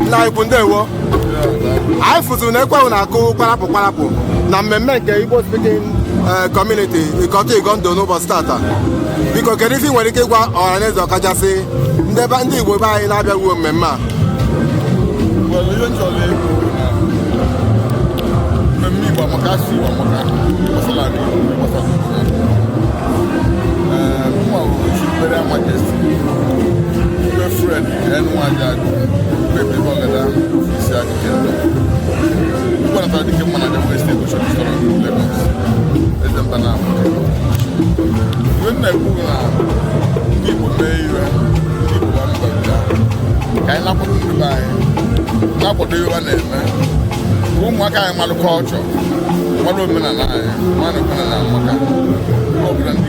nna anyị ukwu ndewo anyị fụziri na ekwe na-akụ kwarapụ kwarapụ na mmemme nke Igbo speaking eh, community Ikotun Igando n'ụbọchị tata biko kedu ife i nwere ike ịgwa ọhaneze ọkachasị ndị be- ndị Igbo be anyị na-abịaghị mmemme a Well, ihe m chọrọ ịbụ na mmemme Igbo amaka si Igbo amaka gbasara ala Igbo gbasara obodo. Ee, mụnwa bụ Imperial Majesty, Chibuere Fred na-akwado ihe ọ na-eme ụmụaka anyị malụ culture malụ omenala anyị malụ omenala maka obodo ndị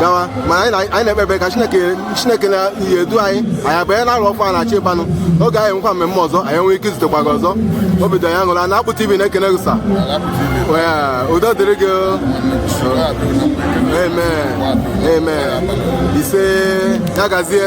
gawa mana anyị na-ekpe ekpere ka chineke chineke na-edu anyị anyị abanye n'arọ ọfụụ a na-achọ ịbanye oge anyị nwekwa mmemme ọzọ anyị nwere ike izutekwa gị ọzọ obi dị anyị aṅụrị na Akpụ TV na-ekene gị sị udo dịrị gị amen amen ise ya gazie